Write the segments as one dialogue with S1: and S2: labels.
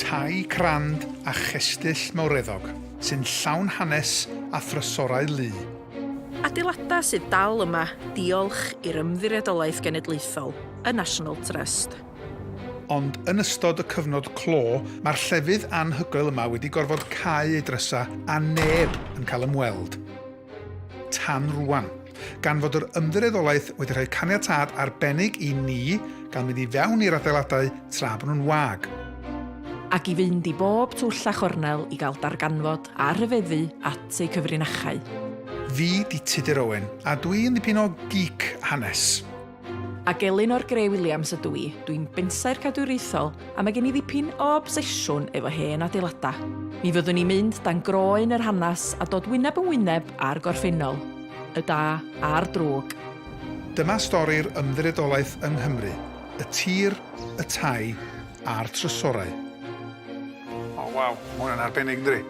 S1: Tai crand a chestyll mawreddog sy'n llawn hanes a thrysorau lu. Adeiladau
S2: sydd dal yma diolch i'r Ymddiriedolaeth Genedlaethol, y National Trust. Ond
S1: yn ystod y cyfnod clo, mae'r llefydd anhygoel yma wedi gorfod cau ei drysau a neb yn cael ymweld. tan rwan, gan fod yr ymddiriedolaeth wedi rhoi caniatâd arbennig i ni gael mynd i fewn i'r adeiladau tra bod nhw'n wag. Ac
S2: i fynd i bob twll a chornel i gael darganfod a rhyfeddu at eu cyfrinachau. Fi
S1: 'di Tudur Owen, a dwi yn ddipyn o geek hanes. Ac
S2: Elinor Grey Williams ydw i, dwi'n bensaer cadwriaethol a mae gen i ddipyn o obsesiwn efo hen adeiladau. Mi fyddwn i'n mynd dan groen yr hanes a dod wyneb yn wyneb â'r gorffennol, y da a'r drwg. Dyma
S1: stori'r ymddiriedolaeth yng Nghymru, y tir, y tai a'r trysorau. O waw, mae hwnna'n arbennig yndydi?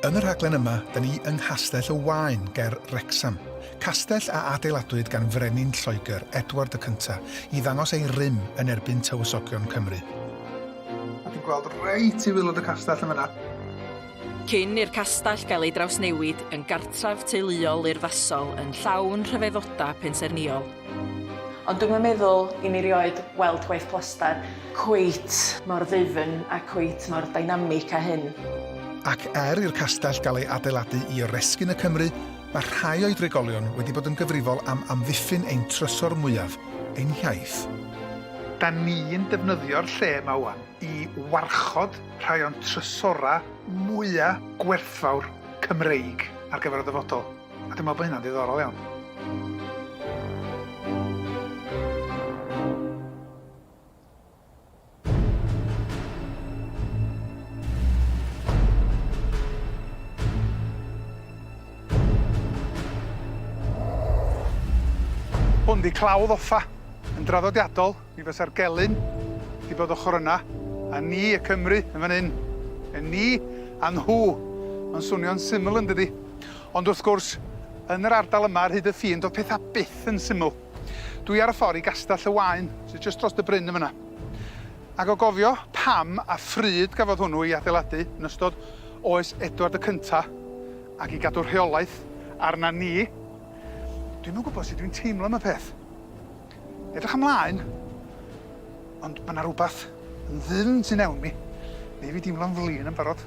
S1: Yn y rhaglen yma, 'da ni yng Nghastell y Waun ger Wrecsam, Castell a adeiladwyd gan frenin Lloegr, Edward y Cyntaf, i ddangos ei rym yn erbyn Tywysogion Cymru. A dwi'n gweld reit i wilod y castell yn fyna. Cyn
S2: i'r castell gael ei drawsnewid yn gartref teuluol urddasol yn llawn rhyfeddodau pensaernïol. Ond dwi'm yn meddwl i mi rioed weld gwaith plaster cweit mor ddwfn a cweit mor dynamic â hyn. Ac er
S1: i'r castell gael ei adeiladu i oresgyn y Cymry, Mae rhai o'i drigolion wedi bod yn gyfrifol am amddiffyn ein trysor mwyaf, ein hiaith. Da ni'n defnyddio'r lle yma ŵan i warchod rhai o'n trysorau mwyaf gwerthfawr Cymreig ar gyfer y dyfodol, a dwi'n meddwl bod hynna'n ddiddorol iawn. Hwn di clawdd offa. Yn draddodiadol, mi fysa'r gelyn di bod ochr yna, a ni y Cymru yn fan hyn. Y ni a nhw. Mae'n swnio'n syml yn dydi? Ond wrth gwrs, yn yr ardal yma ar hyd y ffin, doedd pethau byth yn syml. Dwi ar y ffor i Gastell y Waun, sy jyst dros dy bryn yn fynna. Ac o gofio pam a phryd gafodd hwnnw ei adeiladu yn ystod oes Edward y Cynta, ac i gadw rheolaeth arna ni, dwi'm yn gwybod sut dwi'n teimlo am y peth. Edrych ymlaen, ond ma' 'na rwbath yn ddyfn tu mewn mi, neu fi deimlo'n flin yn barod.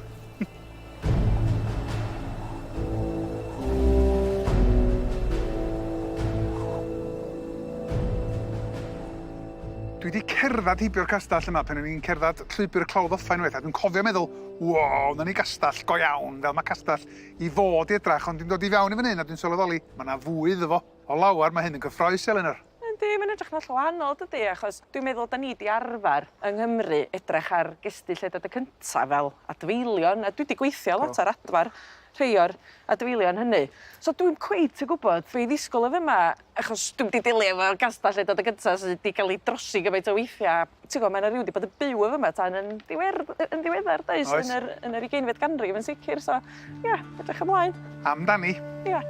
S1: Dwi wedi cerdded heibio'r castell yma pan o'n i'n cerdded llwybr y Clawdd Offa unwaith, a dwi'n cofio meddwl, wow, 'na ni gastell go iawn, fel mae castell i fod i edrych, ond dwi'n dod i fewn i fan hyn a dwi'n sylweddoli, mae 'na fwy iddo fo. O lawer, mae hyn yn gyffrous, Elinor. Yndi mae'n edrych yn hollol
S2: wahanol dydi achos dwi'n meddwl 'dan ni 'di arfar yng Nghymru edrych ar gestyll edad y cynta fel adfeilion a dwi 'di gweithio lot ar adfar rhei o'r adfeilion hynny so dwi'm cweit yn gwbod be' i ddisgwl o fema achos dwi'm 'di delio efo gastell edad y gynta sy 'di ga'l 'i drosi gymaint o weithia ti'n gwbo ma' 'na ryw 'di bod yn byw efo yma tan yn ddiwer- yy yn ddiweddar does? Oes. Yn yr yn yr ugeinfed ganrif yn sicir so ia edrych ymlaen. Amdani.
S1: Ia.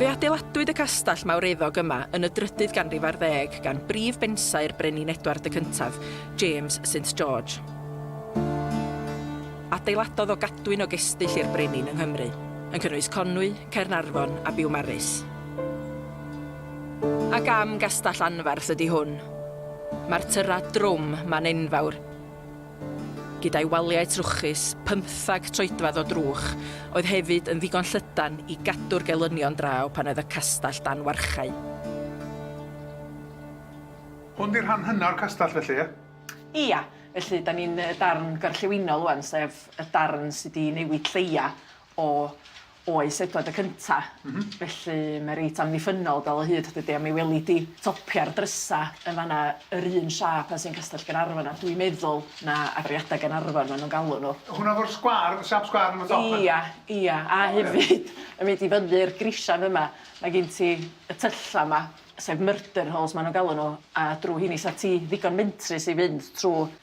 S2: Fe adeiladwyd y castell mawreddog yma yn y drydydd ganrif ar ddeg gan brif bensai'r Brenin Edward y Cyntaf, James St George. Adeiladodd o gadwyn o gestyll i'r brenin yng Nghymru, yn cynnwys Conwy, Caernarfon a Biwmaris. A gam gastell anferth ydi hwn. Mae'r tyra drwm ma'n enfawr. Gyda'i waliau trwchus, pymthag troedfedd o drwch, oedd hefyd yn ddigon llydan i gadw'r gelynion draw pan oedd y castell dan warchae.
S1: Hwn 'di'r rhan hynna o'r castell felly, ie? Ia,
S2: felly 'dan ni'n y darn gorllewinol ŵan, sef y darn sy' 'di newid lleia' o Oes, Edward y Cynta'. M-hm. Felly mae reit amddiffynnol dal o hyd, dydi? A mi weli di topia'r drysa' yn fan'na yr un siâp a sy'n Castell Gaernarfon a dwi'n meddwl na Agoriadau Gaernarfon ma' nhw'n galw nhw. Hwnna efo'r sgwâr, y
S1: siâp sgwâr yn y top 'na? Ia, ia. A
S2: hefyd yn mynd i fyny'r grisiau fyma, mae gen ti y tyllau 'ma, sef Murdenhalls ma' nhw'n galw nhw, a drw' heini 'sa ti ddigon mentrus i fynd trw'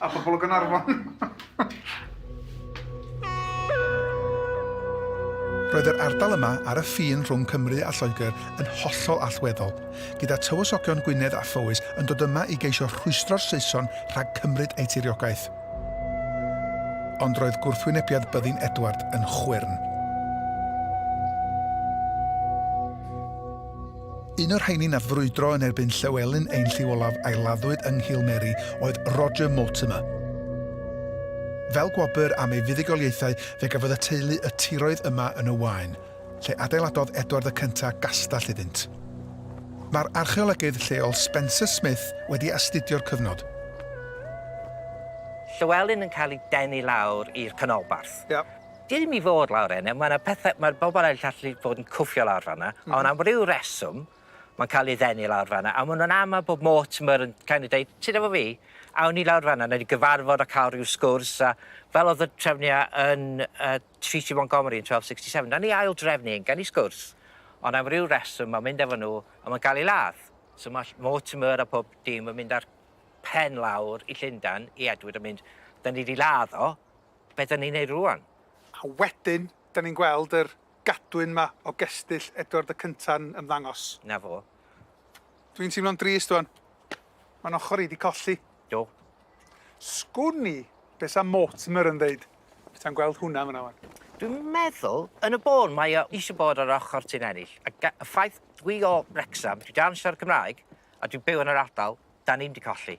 S1: A pobl o Gaernarfon. Roedd yr ardal yma ar y ffin rhwng Cymru a Lloegr yn hollol allweddol, gyda tywysogion Gwynedd a Phowys yn dod yma i geisio rhwystro'r Saeson rhag cymryd eu tiriogaeth. Ond roedd gwrthwynebiad byddin Edward yn chwyrn. Un o'r rheiny nath frwydro yn erbyn Llywelyn ein lliw olaf a'i laddwyd yng Nghil Mary oedd Roger Mortimer. Fel gwobr am ei fuddugoliaethau fe gafodd y teulu y tiroedd yma yn y Waun, lle adeiladodd Edward y Cynta gastell iddynt. Mae'r archeolegydd lleol Spencer Smith wedi astudio'r cyfnod.
S3: Llywelyn yn cael ei denu lawr i'r canolbarth. Ia. Dim i
S1: fod
S3: lawr enne, mae 'na pethe, mae'r bobl eraill allu bod yn cwffio lawr fan 'na, ond am ryw reswm, mae'n cael ei ddenu lawr fan 'na, a maen nhw'n amau bod Mortimer yn kind of deud, ti'n efo fi? Awn ni lawr fan 'na, wnewn ni gyfarfod a cael ryw sgwrs, a fel oedd y trefniau yn uh, Treaty Montgomery yn 1267, na ni ail drefnu hyn, gan i sgwrs, ond am ryw reswm mae'n mynd efo nhw a mae'n cael ei ladd. So mae Mortimer a pob dim yn mynd ar pen lawr i Llundan i Edward yn mynd, da ni wedi ladd o, Be dan ni'n neud rŵan? A wedyn,
S1: dan ni'n gweld yr gadwyn 'ma o gestyll Edward y Cynta'n ymddangos. 'Na fo.
S3: Dwi'n
S1: teimlo'n drist ŵan. Mae'n ochr i 'di colli. Do.
S3: Sgwn
S1: i be' sa Mortimer yn ddeud peta'n gweld hwnna fan'na ŵan. Dwi'n meddwl,
S3: yn y bôn, mae o isio bod ar ochr Tŷ'n Ennill, a ga- y ffaith dwi o Wrecsam, dwi dansio ar y Cymraeg, a dwi'n byw yn yr ardal, dan ni'm 'di colli.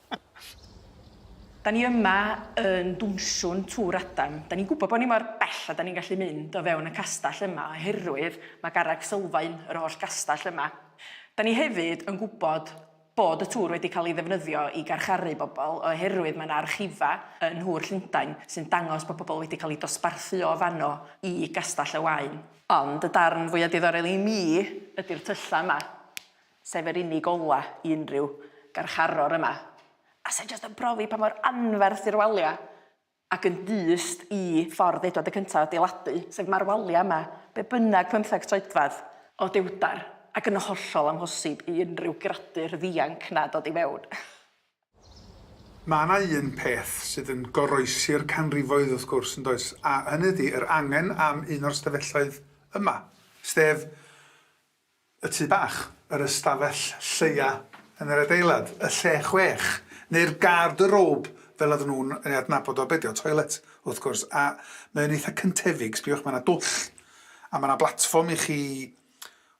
S2: Da ni yma yn dwnswn Tŵr Adam. Da ni'n gwybod bod ni mor bell a da ni'n gallu mynd o fewn y castell yma oherwydd mae garreg sylfaen yr holl gastell yma. Da ni hefyd yn gwybod bod y tŵr wedi cael ei ddefnyddio i garcharu bobl oherwydd mae yna archifa yn Nhŵr Llundain sy'n dangos bod pobl wedi cael eu dosbarthu o fanno i Gastell y Waun. Ond y darn fwya diddorol i mi ydi'r tyllau yma. sef yr unig ola i unrhyw garcharor yma, a sy'n jyst yn profi pa mor anferth yw'r walia, ac yn dyst i ffordd Edward y Cyntaf adeiladu, sef mae'r walia yma, be bynnag pymtheg troedfedd, o dywder, ac yn hollol amhosib i unrhyw gradur ddianc 'na dod i mewn.
S1: Mae yna un peth sydd yn goroesi'r canrifoedd wrth gwrs, yn does, a hynny ydy yr angen am un o'r stafelloedd yma, sef y tŷ bach, yr ystafell lleia yn yr adeilad, y lle chwech, neu'r garde robe fel oedden nhw'n ei adnabod o, be' 'di o, toilet, wrth gwrs, a mae o'n eitha cyntefig, sbiwch, mae 'na dwll, a mae 'na blatfform i chi,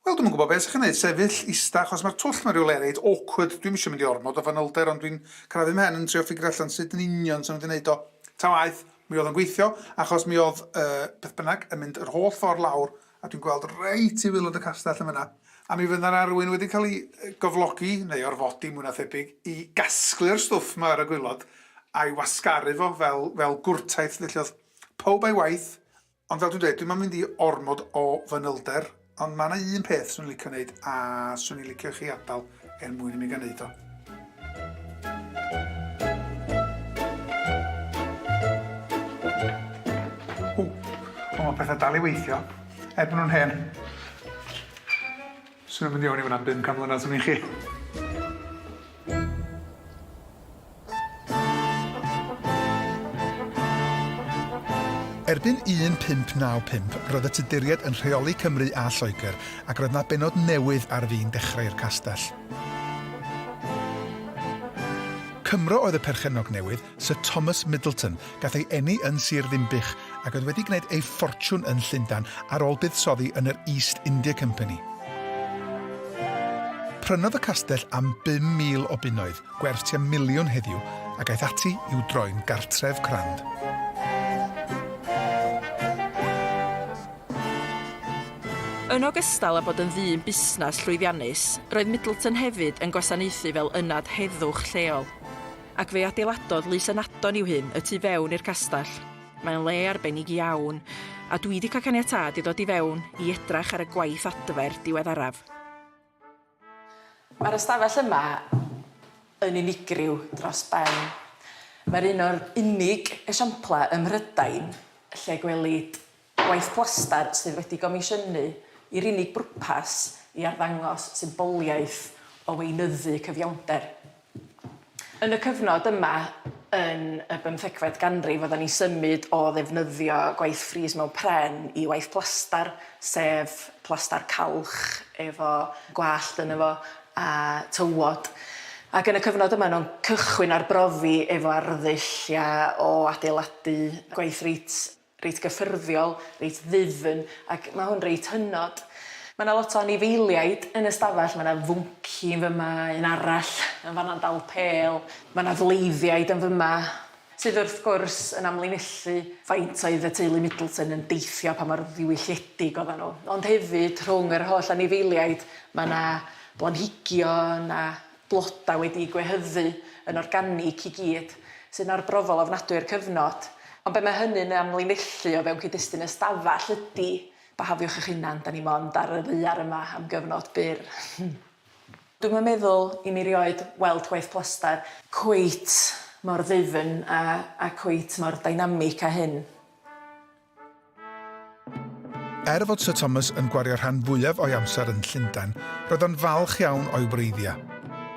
S1: wel, dwi'm yn gwybod be' 'sa chi'n neud, sefyll, ista, achos mae'r twll mewn rywle reit awkward, dwi'm isio mynd i ormod o fanylder ond dwi'n crafu 'mhen yn trio ffigro allan sut yn union 'sa nhw 'di neud o, ta waeth, mi oedd o'n gweithio, achos mi oedd, yy, beth bynnag, yn mynd yr holl ffordd lawr A dwi'n gweld reit i waelod y castell yn fan'na. A mi fydd 'na arwyn wedi cael ei gyflogi, neu orfodi mwy na thebyg, i gasglu'r stwff 'ma ar y gwaelod, a'i wasgaru fo fel fel gwrtaith 'lly. Felly o'dd pawb a'i waith, ond fel dwi'n dweud, dwi'm am mynd i ormod o fanylder, ond ma' 'na un peth swn i'n licio neud, a swn i'n licio i chi adal. er mwyn i mi gael neud o. Ww, ond mae pethau dal i weithio, er bod nhw'n hen. Swn i'n mynd i fewn i fan'na am bum can mlynedd, swn i'n chi. Erbyn 1595 roedd y Tuduriaid yn rheoli Cymru a Lloegr ac roedd 'na bennod newydd ar fin dechrau i'r castell. Cymro oedd y perchennog newydd, Sir Thomas Middleton, gath ei eni yn Sir Ddinbych ac oedd wedi gwneud ei ffortiwn yn Llundain ar ôl buddsoddi yn yr East India Company. Prynodd y castell am 5,000 o bunnoedd, gwerth tua miliwn heddiw, ac aeth ati i'w droi'n gartref crand.
S2: Yn ogystal â bod yn ddyn busnes llwyddiannus, roedd Middleton hefyd yn gwasanaethu fel ynad heddwch lleol, ac fe adeiladodd Lys Ynadon i'w hun y tu fewn i'r castell. Mae'n le arbennig iawn, a dwi 'di cael caniatâd i ddod i fewn i edrach ar y gwaith adfer diweddaraf. Mae'r ystafell yma yn unigryw dros ben. Mae'r un o'r unig esiamplau ym Mhrydain lle gwelid gwaith plastar sydd wedi gomisiynu i'r unig bwrpas i arddangos symboliaeth o weinyddu cyfiawnder. Yn y cyfnod yma yn y bymthegfed ganrif oeddan ni'n symud o ddefnyddio gwaith fris mewn pren i waith plastar, sef plastar calch efo gwallt yno fo a tywod. Ac yn y cyfnod yma o'n o'n cychwyn arbrofi efo arddull ia o adeiladu gwaith reit reit gyffyrddiol, reit ddwfn, ac mae hwn reit hynod. Mae 'na lot o anifeiliaid yn y stafell, mae 'na fwnci yn fyma, un arall yn fan'na'n dal pêl, mae 'na fleiddiaid yn fyma, sydd wrth gwrs yn amlinellu faint oedd y teulu Middleton yn deithio, pa mor ddiwylliedig oeddan nhw. Ond hefyd, rhwng yr holl anifeiliaid, mae 'na blanhigion a blodau wedi'u gwehyddu yn organig i gyd, sy'n arbrofol ofnadwy i'r cyfnod, ond be mae hynny'n ei amlinellu o fewn cyd-destun ystafell ydy, byhafiwch eich hunan, 'da ni 'mond ar y ddaear yma am gyfnod byr. Dwi'm yn meddwl i mi 'rioed weld gwaith plaster cweit mor ddwfn a a cweit mor dynamic â hyn.
S1: Er fod Sir Thomas yn gwario rhan fwyaf o'i amser yn Llundain, roedd o'n falch iawn o'i wreiddiau.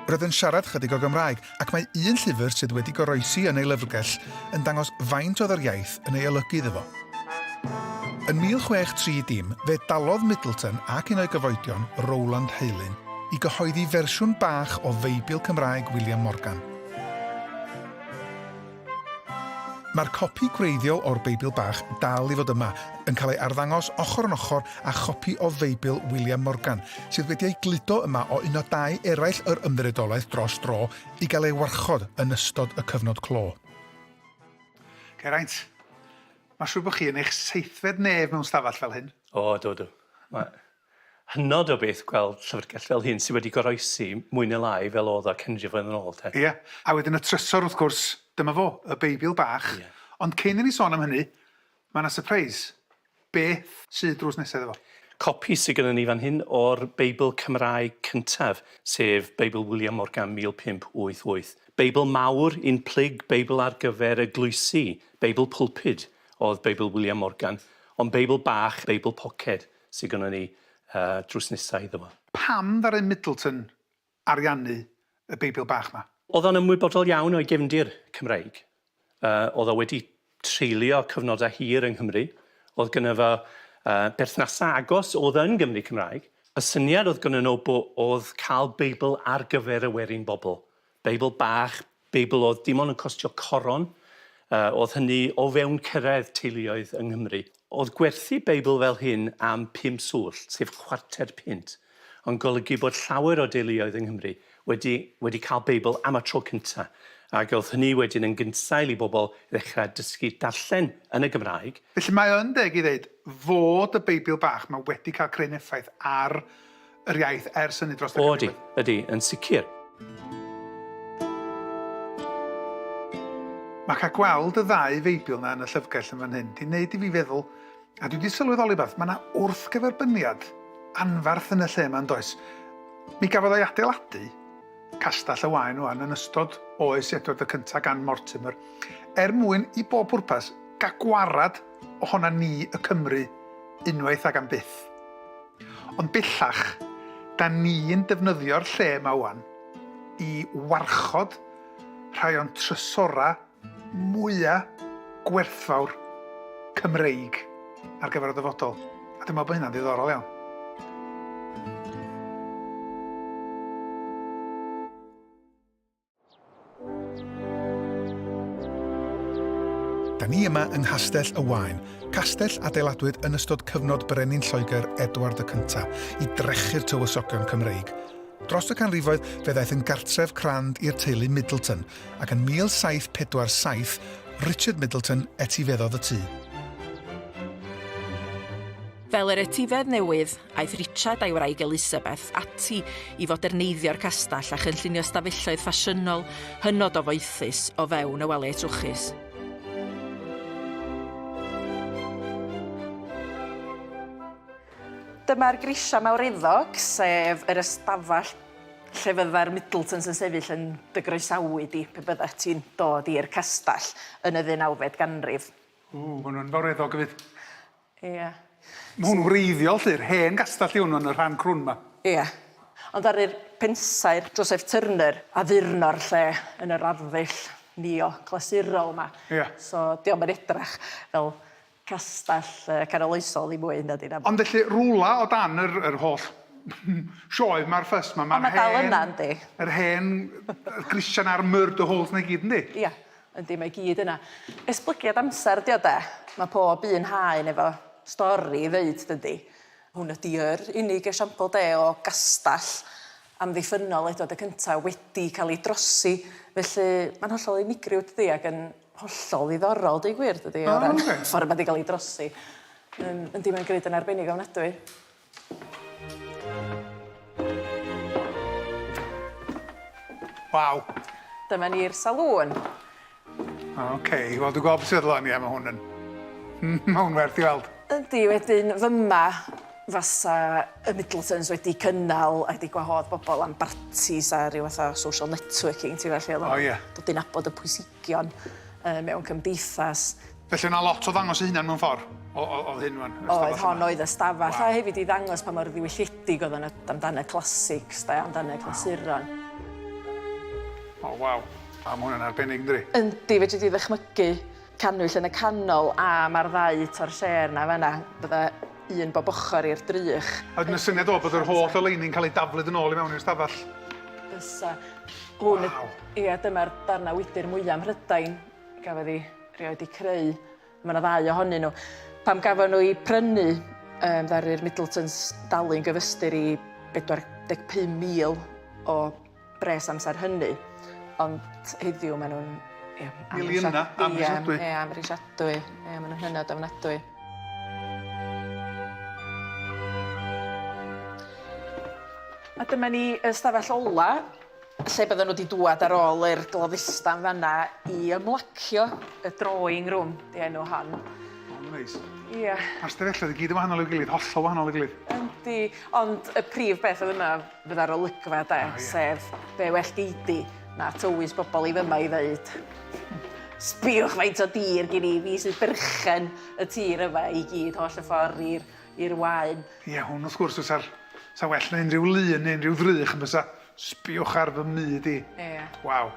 S1: Roedd yn siarad chydig o Gymraeg, ac mae un llyfr sydd wedi goroesi yn ei lyfrgell yn dangos faint oedd yr iaith yn ei olygu iddo fo. Yn 1630, fe dalodd Middleton ac un o'i gyfoedion, Rowland Heylyn, i gyhoeddi fersiwn bach o Feibl Cymraeg William Morgan. Mae'r copi gwreiddiol o'r Beibl Bach dal i fod yma, yn cael ei arddangos ochr yn ochr â chopi o Feibl William Morgan, sydd wedi ei gludo yma o un o dai eraill yr Ymddiriedolaeth dros dro i gael ei warchod yn ystod y cyfnod clo. Geraint, mae'n siŵr bod chi yn eich seithfed nef mewn stafell fel hyn. O, do, do.
S4: Mae... hynod o beth gweld llyfrgell fel hyn sydd wedi goroesi mwy neu lai fel oedd o cyn rhyw flynedd yn ôl, 'te. Ie. A wedyn y
S1: trysor, wrth gwrs, dyma fo, y Beibl bach. Ie. Ond cyn i ni sôn am hynny, mae 'na sypreis. Beth sydd drws nesa iddo fo? Copi sy gynnon ni
S4: fan hyn o'r Beibl Cymraeg cyntaf, sef Beibl William Morgan 1588. Beibl mawr, un plyg, Beibl ar gyfer eglwysi, Beibl pulpud oedd Beibl William Morgan, ond Beibl bach, Beibl poced, sy gynnon ni drws nesa iddo fo. Pam ddaru
S1: Middleton ariannu y Beibl bach 'ma? O'dd o'n ymwybodol
S4: iawn o'i gefndir Cymreig. O'dd o wedi treulio cyfnoda hir yng Nghymru, o'dd gynno fo berthnasa agos o'dd yn Gymry Cymraeg. Y syniad o'dd gynno nw bo- o'dd ca'l Beibl ar gyfer y werin bobl, Beibl bach, Beibl oedd dim ond yn costio coron, yy oedd hynny o fewn cyrraedd teuluoedd yng Nghymru. Oedd gwerthu Beibl fel hyn am pum swllt, sef chwarter punt, yn golygu bod llawer o deuluoedd yng Nghymru wedi wedi cael Beibl am y tro cynta', ac oedd hynny wedyn yn gynsail i bobl ddechrau dysgu darllen yn y Gymraeg. Felly mae yn deg i
S1: ddeud fod y Beibl bach 'ma wedi cael cryn effaith ar yr iaith ers hynny dros y O ydy, ydy, yn sicr. Mae cael gweld y ddau feibil na yn y llyfrgell yn fan hyn, di wneud i fi feddwl, a dwi di sylweddoli beth, mae yna wrthgyferbyniad anfarth yn y lle yma yn does. Mi gafodd ei adeiladu Castell y Waen wan yn ystod oes Edward y Cyntaf gan Mortimer, er mwyn i bob pwrpas gael gwarad ohona ni y Cymry unwaith ag am byth. Ond bellach, da ni'n defnyddio'r lle yma ŵan i warchod rhai o'n trysorau mwya' gwerthfawr Cymreig ar gyfer y dyfodol, a dwi'n meddwl bod hynna'n ddiddorol iawn. Da ni yma yng Nghastell y Waun, castell adeiladwyd yn ystod cyfnod Brenin Lloegr Edward y Cyntaf i drechu'r tywysogion Cymreig. Dros y canrifoedd fe ddaeth yn gartref crand i'r teulu Middleton ac yn 1747 Richard Middleton etifeddodd y tŷ.
S2: Fel yr etifedd newydd, Aeth Richard a'i wraig Elizabeth ati i foderneiddio'r castell a chynllunio stafelloedd ffasiynol hynod o foethus o fewn y waliau trwchus. Dyma'r grisiau mawreddog, sef yr ystafell lle fydda'r Middletons yn sefyll yn dy groesawu di pe byddet ti'n dod i'r castell yn y ddeunawfed ganrif. Ww, maen nhw'n
S1: fawreddog, Yfed. Ie.
S2: Ma' hwn
S1: wreiddiol 'lly, yr hen gastell 'di hwn wan, y rhan crwn 'ma. Ie.
S2: Ond ddaru'r pensaer Joseph Turner addurno'r lle yn yr arddull neo-glasurol 'ma. Ie. So, 'di o'm
S1: yn edrach
S2: fel castell canoloesol ddim mwy nadi, na. Ond felly, rwla o
S1: dan yr yr holl sioe 'ma a'r fuss 'ma, ma'r hen... Ond ma' dal yna, yndi?
S2: ...yr hen
S1: grisian a'r murder holes 'na i gyd, yndi? Ia. Yndi mae
S2: gyd yna. Esblygiad amser ydi o de? Mae pob un haen efo stori i ddeud dydi? Hwn ydi yr unig esiampl de o gastell amddiffynnol eto de cynta wedi cael ei drosi felly mae'n hollol unigryw dydi ac yn hollol ddiddorol deud gwir dydi o ran ffordd mae wedi cael ei drosi. Yndi mae'n grud yn arbennig ofnadwy.
S1: Waw. Dyma ni'r
S2: salŵn.
S1: OK, wel dwi'n gweld beth sydd feddwl am i am hwn yn... Mae hwn werth i weld. Yndi, wedyn
S2: fyma fasa y Middletons wedi cynnal a wedi gwahodd bobl am bartis a rhyw fath o social networking, ti'n gwybod, lle oedd o'n dod i nabod y
S1: pwysigrwydd.
S2: anrhegion mewn cymdeithas. Felly o' 'na lot
S1: o ddangos ei hunan mewn ffor'? O- o- o'dd hyn rwan? Oedd, hon oedd y
S2: stafell. A hefyd i ddangos pa mor ddiwylliedig oedd o'n am dan y classics 'de, am dan y clasuron.
S1: O waw. A ma' hwn yn arbennig yndydi? Yndi, fedri di
S2: ddychmygu cannwyll yn y canol a ma'r ddau torchêr 'na fan 'na, bydda un bob ochr i'r drych. A wedyn y syniad ddo bod
S1: yr holl oleuni'n cael ei daflu yn ôl i mewn i'r stafell. Fysa
S2: hwn... Waw. ...ia dyma'r darnau wydr mwya Mhrydain gafodd i rioed eu creu. Mae yna ddau ohonyn nhw. Pam gafon nhw i prynu um, ddaru'r Middletons dalu'n gyfystyr i 45,000 o bres amser hynny, ond heddiw maen nhw'n... Ie, Miliynau,
S1: amhrisiadwy. Ie, amhrisiadwy.
S2: Ie, maen nhw'n hynod ofnadwy. A dyma ni y stafell ola, lle bydden nhw wedi dŵad ar ôl i'r gloddista yn fanna i ymlacio y drawing room, di enw hon. Mae'n neis.
S1: Ie. Mae'r
S2: stafelloedd i gyd yn
S1: wahanol i'w gilydd, hollol wahanol i'w gilydd. Yndi, ond
S2: y prif beth oedd yma fydda'r olygfa 'de, sef be' well gei di na tywys bobl i fyma i ddeud sbïwch faint o dir gin i, fi sy'n berchen y tir yma i gyd holl y ffordd i'r i'r waun. Ie, hwn wrth gwrs
S1: fysa'r... Sa'n well na unrhyw lun neu unrhyw ddrych yn bysa? Sbïwch ar fy myd i. Ie. Waw.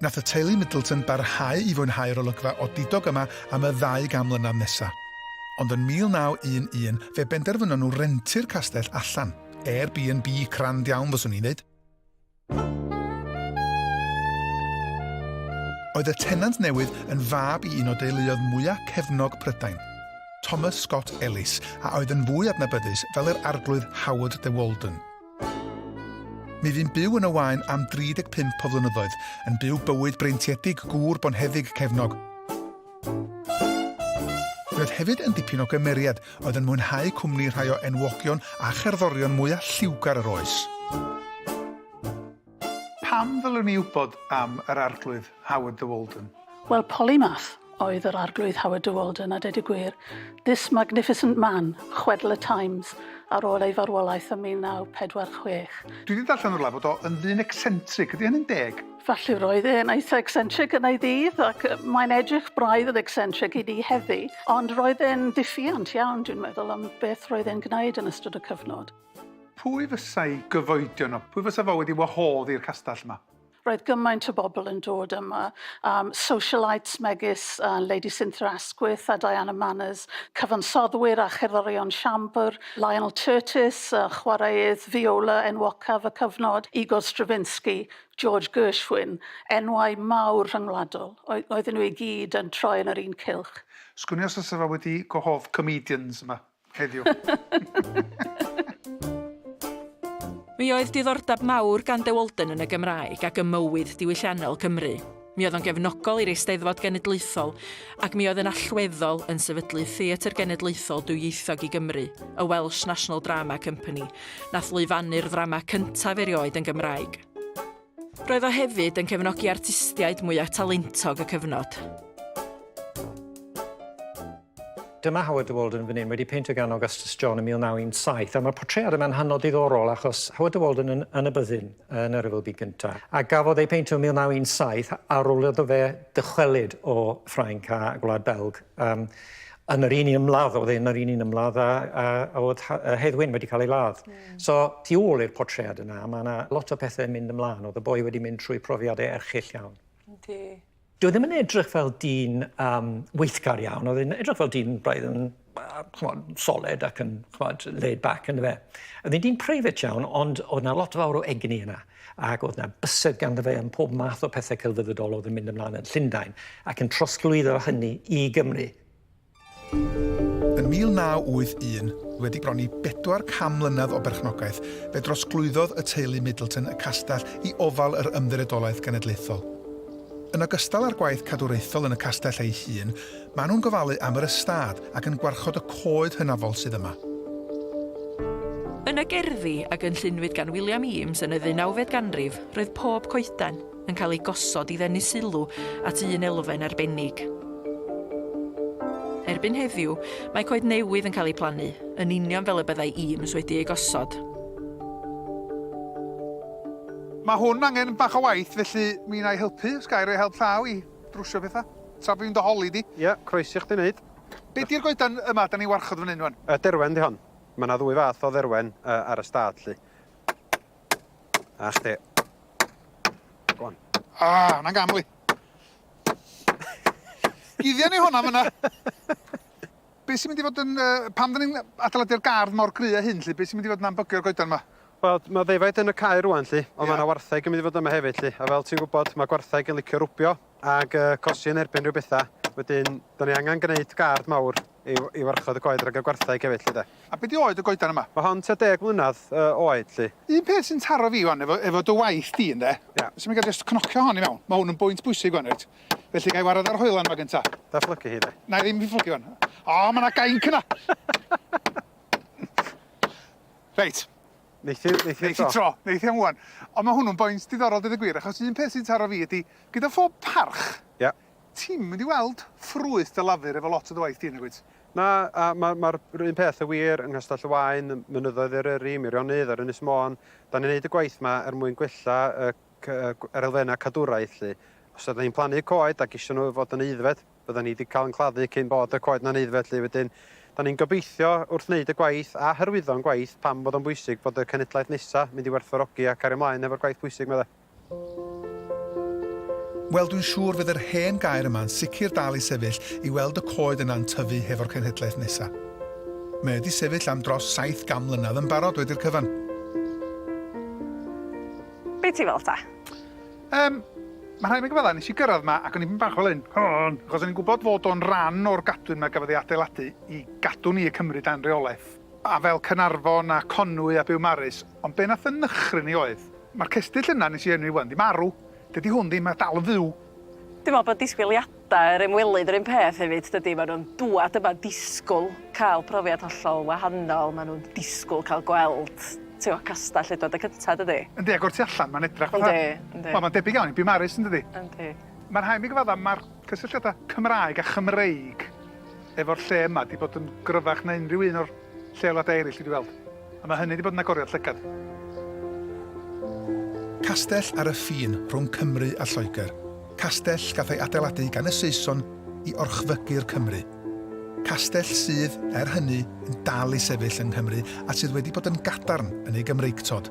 S5: Nath y teulu Middleton barhau i fwynhau'r olygfa odidog yma am y ddau gan mlynedd nesa. Ond yn 1911 fe benderfynon nhw rentu'r castell allan. Airbnb crand iawn fyswn i'n ddeud. Oedd y tenant newydd yn fab i un o deuluoedd mwya cefnog Prydain, Thomas Scott Ellis, a oedd yn fwy adnabyddus fel yr Arglwydd Howard de Walden. Mi fu'n byw yn y Waun am 35 o flynyddoedd, yn byw bywyd breintiedig gŵr bonheddig cefnog. Fe oedd hefyd yn dipyn o gymeriad, oedd yn mwynhau cwmni rhai o enwogion a cherddorion mwyaf lliwgar yr oes.
S1: Pam ddylwn i wybod am yr Arglwydd Howard de Walden? Wel, polymath
S6: oedd yr Arglwydd Howard de Walden, a dweud y gwir, this magnificent man, chwedl y Times, ar ôl ei farwolaeth ym 1946. Dwi 'di darllen yn
S1: rwla bod o yn ddyn ecsentric, ydy hynny'n deg? Felly roedd e'n
S6: eitha ecsentric yn ei ddydd, ac mae'n edrych braidd yn ecsentric i ni heddi, ond roedd e'n ddiffyant iawn, dwi'n meddwl, am beth roedd e'n gwneud yn ystod y cyfnod. Pwy fysa'i
S1: gyfoedion o? Pwy fysa fo wedi wahodd i'r castell 'ma? Roedd gymaint o
S6: bobl yn dod yma, um, socialites megis uh, Lady Cynthia Asquith a Diana Manners, cyfansoddwyr a cherddorion siambr, Lionel Curtis, uh, chwaraeodd viola enwocaf y cyfnod, Igor Stravinsky, George Gershwin, enwau mawr rhyngwladol. Oedden nhw i gyd yn troi yn yr un cylch. Sgwn i os fysa fo
S1: wedi gwahodd comedians yma?
S2: Heddiw. Mi oedd diddordeb mawr gan De Walden yn y Gymraeg ac ym mywyd diwylliannol Cymru. Mi oedd o'n gefnogol i'r Eisteddfod Genedlaethol ac mi oedd yn allweddol yn sefydlu Theatr Genedlaethol Dwyieithog i Gymru, y Welsh National Drama Company, nath lwyfannu'r ddrama cyntaf erioed yn Gymraeg. Roedd o hefyd yn cefnogi artistiaid mwyaf talentog y cyfnod.
S7: Dyma Howard de Walden fan hyn wedi peintio gan Augustus John yn 1917 a mae'r portread yma'n hynod ddiddorol achos Howard de Walden yn, yn y byddin yn yr Rhyfel Byd Gyntaf a gafodd ei peintio yn 1917 ar ôl iddo fe dychwelyd o Ffrainc a Gwlad Belg um, yn yr un un ymladd oedd yn yr un un ymladd a, a, a oedd Hedd Wyn wedi cael ei ladd. Mm. So, tu ôl i'r portread yna, mae yna lot o pethau yn mynd ymlaen. Oedd y boi wedi mynd trwy profiadau erchill iawn. Yndi. Dwi e ddim yn edrych fel dyn um, weithgar iawn, oedd yn edrych fel dyn braidd yn chmod, solid ac yn chmod, laid back yn fe. Oedd yn dyn preifat iawn, ond oedd yna lot fawr o egni yna. ac oedd 'na bysedd ganddo fe am pob math o pethe celfyddydol oedd yn mynd ymlaen yn Llundain, ac yn trosglwyddo hynny i Gymru.
S5: Yn 1981, wedi bron i bedwar can mlynedd o berchnogaeth, fe drosglwyddodd y teulu Middleton y castell i ofal yr Ymddiriedolaeth Genedlaethol. Yn ogystal â'r gwaith cadwraethol yn y castell ei hun, Maen nhw'n gofalu am yr ystâd ac yn gwarchod y coed hynafol sydd yma.
S2: Yn y gerddi a gynllunwyd gan William Eames yn y ddeunawfed ganrif, roedd pob coeden yn cael ei gosod i ddenu sylw at un elfen arbennig. Erbyn heddiw, mae coed newydd yn cael eu plannu, yn union fel y byddai Eames wedi eu gosod.
S1: Mae hwn angen bach o waith, felly mi wna i helpu, os ga i roi help llaw i. drwsio petha. Tra bo' fi'n dy holi di. Ia, croesi chdi neud.
S8: Be di'r goedan
S1: yma da ni'n warchod fan hyn wan? Y derwen di hon.
S8: Ma' na ddwy fath o dderwen ar y stad lly. A chdi. Go on. Ah,
S1: na'n gam wi. Guddian ni honna fynna. Be' sy'n mynd i fod yn yy... Pam 'dan ni'n adeiladu'r gardd mor gry â hyn 'lly? Be' sy'n mynd i fod yn anbygio'r goedan 'ma? Wel, ma' ddefaid
S8: yn y cae rŵan 'lly, ond ma' 'na wartheg yn mynd i fod yma hefyd 'lly, a fel ti'n gwbod, ma' gwartheg yn licio rwbio ag yy cosi yn erbyn rhyw betha, wedyn 'dan ni angan gneud gardd mawr i i warchod y coed rhag y gwartheg hefyd 'lly 'de. A be' 'di oed y goedan yma?
S1: Ma' hon tua deg mlynadd
S8: yy oed 'lly. Un peth sy'n taro fi
S1: 'wan efo efo dy waith di ynde? Ia. Os 'yn ni'n gallu jyst
S8: cnocio
S1: hon i mewn, ma' hwn yn bwynt bwysig 'wan reit. Felly gai wared ar yr hoelan ma gynta? Da fflygu hi de. Nai
S8: ddim fflygu hwn.
S1: O ma na gainc yna! Reit.
S8: Neith i neith i tro. tro. Neith i am
S1: ŵan. Ond ma' hwnnw'n boint diddorol deud y gwir achos un peth sy'n taro fi ydi gyda phob parch... Ia.
S8: ...ti'm mynd i
S1: weld ffrwyth dy lafur efo lot o dy waith di nagwyt? Na a ma'
S8: ma'r yr un peth y wir yng Nghastell y Waun, ym mynyddoedd Eryri, Meirionnydd ar Ynys Môn. 'Dan ni'n neud y gwaith 'ma er mwyn gwella y yr elfennau cadwraeth 'lly. Os ydan ni'n plannu coed ac isio nhw fod yn aeddfed, fyddan ni 'di cael yn claddu cyn bod y coed 'na'n aeddfed 'lly. Wedyn, 'dan ni'n gobeithio wrth wneud y gwaith a hyrwyddo'n gwaith pam fod o'n bwysig bod y cenedlaeth nesa' mynd i werthfawrogi a cario 'mlaen hefo'r gwaith pwysig 'ma 'de.
S5: Wel, dwi'n siŵr fydd yr hen gaer yma'n sicr dal i sefyll i weld y coed yna'n tyfu hefo'r cenhedlaeth nesa'. Mae o 'di sefyll am dros saith gan mlynadd yn barod wedi'r cyfan.
S2: Be ti'n feddwl ta? Yym,
S1: mae rhaid mi gyfaddau, nes i gyrraedd ma ac o'n i ddim bach fel hyn, hon, achos o'n i'n gwybod fod o'n ran o'r gadwyn ma gafodd ei adeiladu i gadw ni y Cymry dan reolaeth, a fel Caernarfon a Conwy a Biwmaris, ond be nath yn nychryn i oedd, ma'r cestyll yna nes i enwi ŵan di marw, dydi hwn ddim a dal yn fyw. Dwi'n meddwl bod
S2: disgwyliadau Da yr ymwelydd yr un peth hefyd dydi? Maen nhw'n dŵad yma'n disgwyl cael profiad hollol wahanol, maen nhw'n disgwyl cael gweld tibod castell Edward y Cyntaf dydi? Yndi ac o'r tu allan mae'n
S1: edrych fatha... Yndi, yndi. Wel mae'n debyg iawn
S2: i Biwmaris
S1: yn dydi? Yndi. Mae'n
S2: rhaid i mi gyfaddau
S1: mae'r cysylltiadau Cymraeg a Chymreig efo'r lle yma 'di bod yn gryfach na unrhyw un o'r lleoliadau eraill dwi 'di weld, a mae hynny 'di bod yn agoriad llygad.
S5: Castell ar y ffin rhwng Cymru a Lloegr, castell gath ei adeiladu gan y Saeson i orchfygu'r Cymry. Castell sydd, er hynny, yn dal i sefyll yng Nghymru a sydd wedi bod yn gadarn yn ei Gymreictod.